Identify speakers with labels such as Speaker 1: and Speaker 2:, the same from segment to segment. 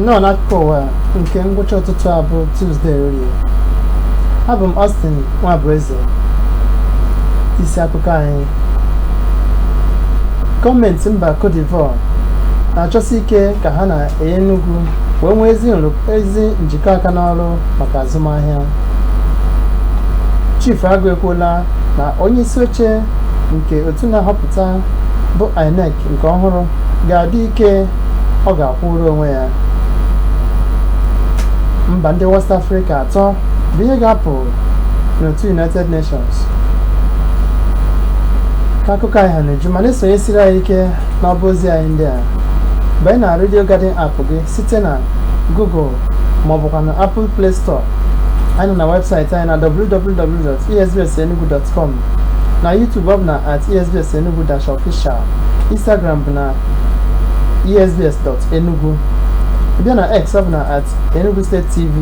Speaker 1: nnọọ n'akụkọ ụwa nke ngwụcha ụtụtụ a bụ Tuesday orie abụ m Austin Nwabueze isi akụkọ anyị gọọmenti mba Cote d'Ivoire na-achọsi ike ka ha na Enugu wee nwee ezi nrụk- ezi njikọ aka n'ọrụ maka azụmahịa chief agụ ekwuola na onye isi oche nke otu na-ahọpụta bụ inec nke ọhụrụ ga-adị ike ọ ga-akwụrụ onwe ya mba ndị west afrịka atọ bụ ihe ga-apụ n'otu united nations ka akụkọ anyị ha n'uju ma na-esonyesiri anyị ike n'ọba ozi anyị ndị a banye na redio garden app gị site na google ma ọ bụkwa na Apple Play Store anyị nọ na webụsaịtị anyị na www.esbsenugu.com na YouTube ọ bụ na at esbsenugu dash official Instagram bụ na esbs.enugu bịa na X ọ bụ na at Enugu State TV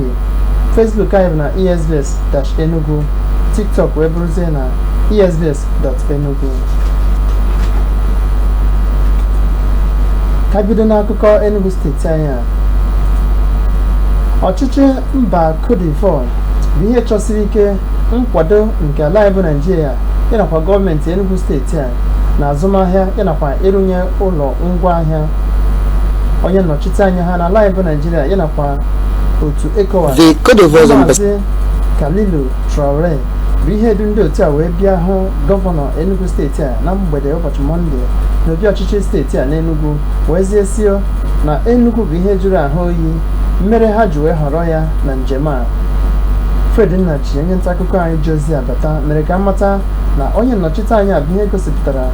Speaker 1: Facebook anyị bụ na esbs dash enugu TikTok wee bụrụzie na esbs.enugu ka bido n'akụkọ Enugu steeti anyị a ọchịchị mba Cote d'Ivoire bụ ihe chọsiri ike nkwado nke ala anyị bụ Naịjirịa yanakwa gọọmenti Enugu steeti a n'azụmahịa yanakwa ịrụnye ụlọ ngwa ahịa onye nnọchite anya ha n'ala anyị bụ Naịjirịa yanakwa otu ECOWAS Maazị Kalilou Traore bụ ihe du ndị otu a wee bịa hụ gọvanọ Enugu steeti a na mgbede ụbọchị Mọnde n'obi ọchịchị steeti a n'Enugu wezie sị na Enugu bụ ihe jụrụ ahụ oyi mere ha ji wee họrọ ya na njem a Fred Nnaji onye ntaakụkọ anyị ji ozi a bata mere ka a mata na onye nnọchite anya a bụ ihe gosipụtara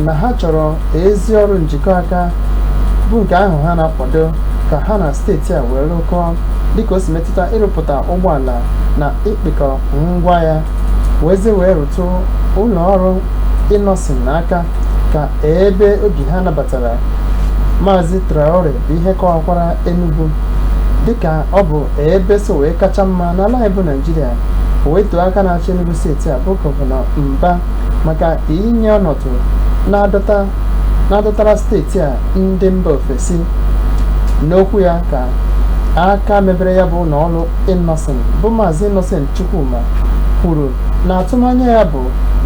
Speaker 1: na ha chọrọ ezi ọrụ njikọ aka bụ nke ahụ ha na-akwado ka ha na steeti a wee rụkọọ dịka o si metụta ịrụpụta ụgbọala na ịkpịkọ ngwa ya wezie wee rụtụ ụlọ ọrụ Innoson aka ka ebe obi ha nabatara Maazị Traore bụ ihe kọwakwara Enugu dịka ọ bụ ebe so wee kacha mma n'ala anyị bụ Naijiria wee too aka na-achị Enugu steeti a bụ gọvanọ Mba maka inye ọnọdụ na-adọtara steeti a ndị mba ofesi n'okwu ya ka aka mebere ya bụ ụlọ ọrụ Innoson bụ Maazị Innocent Chukwuma kwuru na atụmanya ya bụ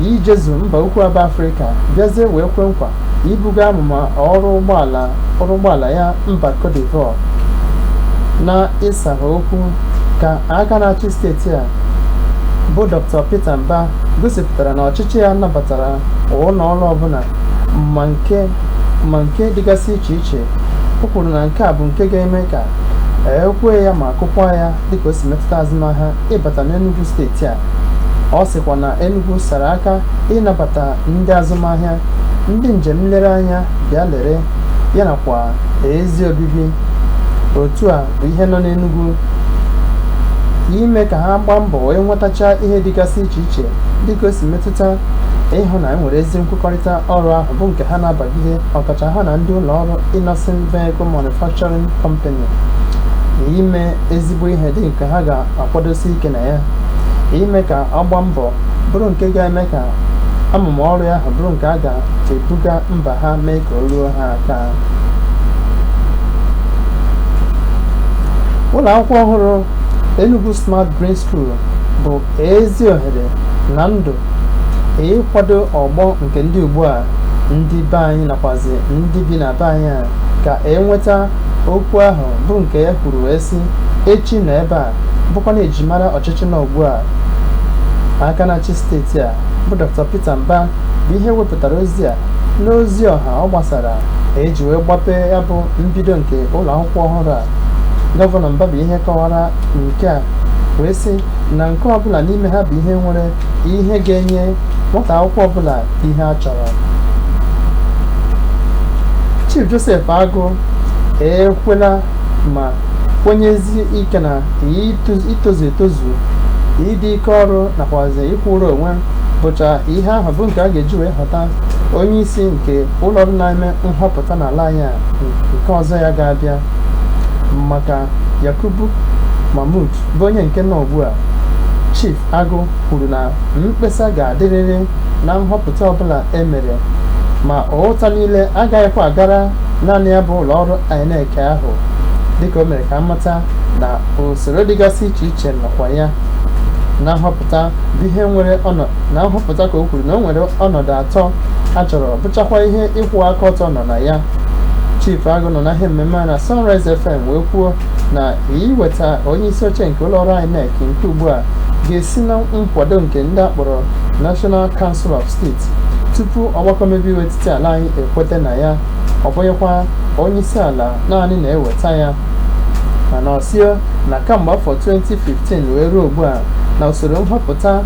Speaker 1: ya ijezu mba ukwu a bụ Afrịka bịazie wee kwe nkwa ibuga amụma ọrụ ụgbọala ya mba Cote d'Ivoire na ịsara okwu ka aka na-achị steeti a bụ Dr. Peter Mba gosipụtara na ọchịchị ya nabatara ụlọ ọrụ ọbụla ma nke dịgasị iche iche o kwuru na nke a bụ nke ga-eme ka ekwee ya ma kụkwa ya dịka o si metụta azụmahịa ịbata n'Enugu steeti a Ọ sịkwa na Enugu sara aka ịnabata ndị azụmahịa, ndị njem nlereanya bịa lere ya nakwa ezi obibi. Otu a bụ ihe nọ n'Enugu ime ka ha gbaa mbọ wee nwetachaa ihe dịgasị iche iche dịka o si metụta ịhụ na e nwere ezi nkwekọrịta ọrụ ahụ bụ nke ha na-abagide ọkacha ha na ndị ụlọ ọrụ Innoson Vehicle Manufacturing Company na ime ezigbo ihe dị nke ha ga kwadosi ike na ya ime ka ọ gbaa mbọ bụrụ nke ga-eme ka amụma ọrụ ahụ bụrụ nke a ga-ebuga mba ha mee ka o ruo ha aka ụlọ akwụkwọ ọhụrụ Enugu Smart Green School bụ ezi ohere na ndụ ịkwado ọgbọ nke ndị ugbu a ndị be anyị nakwazi ndị bi na be anyị a ka enweta okwu ahụ bụ nke ya kwuru wee sị echi nọ ebe a bụkwa na ejimara ọchịchị nọ ugbu a aka na-achị steeti a bụ Dr. Peter Mba bụ ihe wepụtara ozi a n'ozi ọha ọ gbasara eji wee gbapee ya bụ mbido nke ụlọ akwụkwọ ọhụrụ a gọvanọ Mba bụ ihe kọwara nke a wee sị na nke ọbụla n'ime ha bụ ihe nwere ihe ga-enye nwata akwụkwọ ọbụla ihe a chọrọ Chief Joseph Agụ ekwela ma kwenyezi ike na itozu etozu ịdị ike ọrụ nakwazi ịkwụrụ onwe bụcha ihe ahụ bụ nke a ga-eji wee họta onye isi nke ụlọ ọrụ na-eme nhọpụta n'ala anyị a nke ọzọ ya ga-abịa maka Yakubu Mahmood bụ onye nke nọ ugbu a Agụ kwuru na mkpesa ga-adịrịrị na nhọpụta ọbụla e mere ma ụta niile agaghịkwa agara naanị ya bụ ụlọọrụ INEC ahụ dịka o mere ka a mata na usoro dịgasị iche iche nọkwa ya na nhọpụta bụ ihe nwere na nhọpụta ka o kwuru na o nwere ọnọdụ atọ a chọrọ bụchakwa ihe ịkwụ aka ọtọ nọ na ya Chief Agụ nọ na ihe mmemme a na Sunrise FM wee kwuo na iweta onye isi oche nke ụlọọrụ INEC nke ugbu a ga-esi na nkwado nke ndị a kpọrọ National Council of State tupu ọgbakọ omebe iwu etiti ala anyị ekweta na ya ọ bụghịkwa onye isi ala naanị na-eweta ya mana ọ sị na kamgbe afọ 2015 wee ruo ugbu a na usoro nhọpụta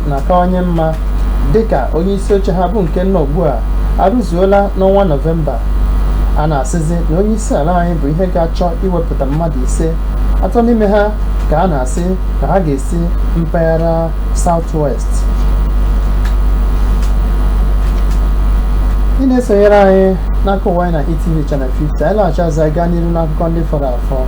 Speaker 1: na-akawanye mma dịka onye isi oche ha bụ nke nọ ugbu a arụzuola n'ọnwa nọvemba a na-asịzi na onye isi ala anyị bụ ihe ga-achọ iwepụta mmadụ ise atọ n'ime ha ka a na-asị na ha ga-esi mpaghara South-West ị na-esonyere anyị n'akụkọ ụwa anyị na ETV Channel 50 anyị laghachi azụ gaa n'iru n'akụkọ ndị fọrọ
Speaker 2: afọ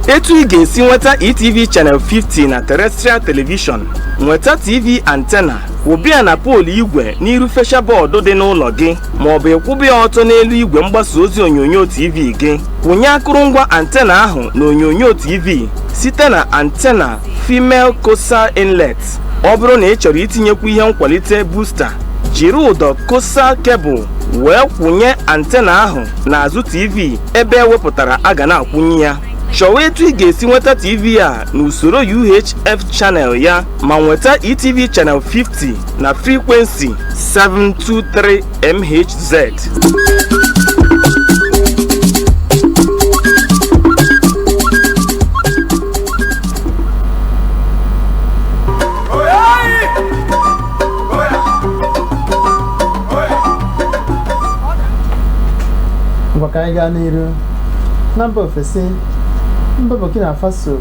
Speaker 2: etu ị ga-esi nweta etv channel 50 na terrestrial television nweta tv antena kwụba ya na poolu igwe n'iru fesha bọọdụ dị n'ụlọ gị ma ọ bụ ịkwụba ya ọtọ n'elu igwe mgbasa ozi onyonyo TV gị kwụnye akụrụngwa antena ahụ na onyonyo TV site na antena female coaxial inlet ọ bụrụ na ị chọrọ itinyekwu ihe nkwalite booster jiri ụdọ coaxial kebụl wee kwụnye antena ahụ n'azụ TV ebe e wepụtara a ga na-akwụnye ya chọwa etu ị ga-esi nweta TV a n'usoro UHF channel ya ma nweta ETV channel 50 na frequency 723 MHz.
Speaker 1: ngwa ka anyị gaa n'iru na mba ofesi mba burkina faso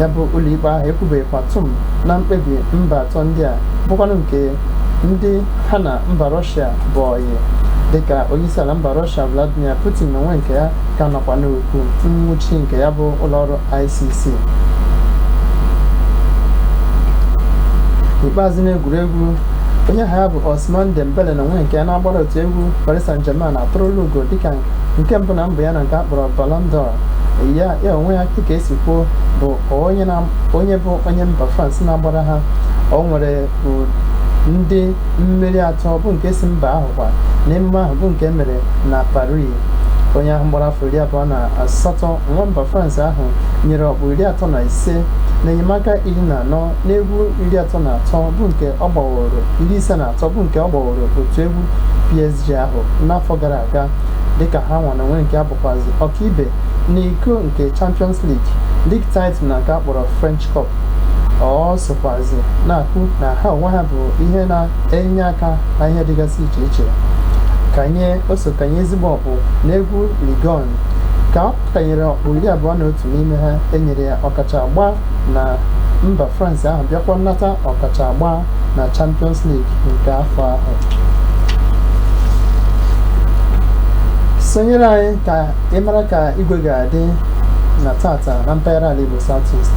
Speaker 1: ya bụ ụlọikpe ahụ ekwubeghịkwa tụm na mkpebi mba atọ ndị a bụkwanụ nke ndị ha na mba rọshia bụ ọyị dịka onyeisiala mba rọshia vladimir putin na onwe nke ya ka nọkwa n'okwu nwụchi nke ya bụ ụlọọrụ icc n'ikpeazụ n'egwuregwu onye aha ya bụ ousmane dembele na onwe nke ya na-agbara otu egwu paris saint germain eturula ugo dịka nke mbụ na mbụ ya na nke a kpọrọ Ballon d'Or ya ya onwe ya dịka e si kwuo bụ onye na onye bụ onye mba France na-agbara ha o nwere u- ndị mmeri atọ bụ nke si mba ahụ kwa n'emume ahụ bụ nke mere na Paris onye ahụ gbara afọ iri abụọ na asatọ nwa mba France ahụ nyere ọkpụ iri atọ na ise na enyemaka iri na anọ n'egwu iri atọ na atọ bụ nke ọ gbaworo iri ise na atọ bụ nke ọ gbaworo otu egwu PSG ahụ n'afọ gara aga aga dịka ha nwa na onwe nke ha bụkwazi ọkaibe n'iko nke Champions League, league title na nke a kpọrọ French Cup. Ọ sokwazi na-akwu na ha onwe ha bụ ihe na-enye aka na ihe dịgasị iche iche. Kanye o so kanye ezigbo ọkpụ n'egwu Ligue 1 ka ọ kanyere ọkpụ iri abụọ na otu n'ime ha e nyere ya ọkacha agba na mba France ahụ bịakwa nata ọkacha agba na Champions League nke afọ ahụ sonyere anyị ka ị mara ka igwe ga-adị na tata na mpaghara ala Igbo South East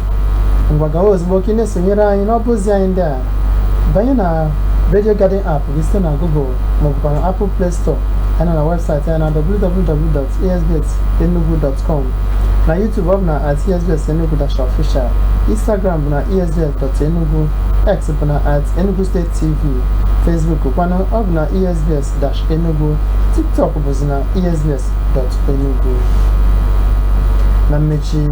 Speaker 1: ngwa gawa ozugbo ka ị na-esonyere anyị n'ọba ozi anyị ndị a banye na Radio Garden app gị site na Google maọbụkwa na Apple Play Store anyị nọ na webụsaịtị anyị na www.esbsenugu.com na YouTube ọ bụ na at esbs enugu dash official Instagram bụ na esbs.enugu X bụ na at enugu state tv Facebook kwanụ ọ bụ na esbs dash enugu TikTok bụzi na esbs dot enugu na mmechi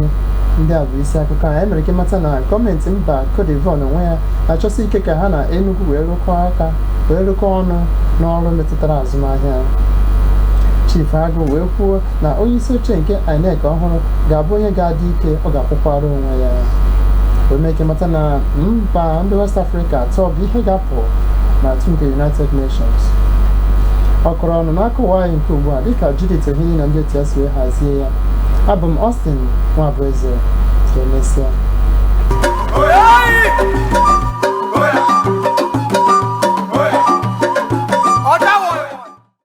Speaker 1: ndị a bụ isi akụkọ anyị mere ka ị mata na gọọmenti mba Cote d'Ivoire n'onwe ya na-achọsi ike ka ha na Enugu wee rụkọọ ọnụ n'ọrụ metụtara azụmahịa Chief Agụ wee kwuo na onye isi oche nke INEC ọhụrụ ga-abụ onye ga-adị ike ọ ga-akwụkwara onwe ya wee mee ka ị mata na mba ndị West Africa atọ bụ ihe ga-apụ n'otu nke United Nations ọ kọrọ ọnụ n'akụkọ ụwa anyị nke ugbu a dịka Judith Ehini na ndị otu ya si wee hazie ya abụ m Austin Nwabueze ka emesịa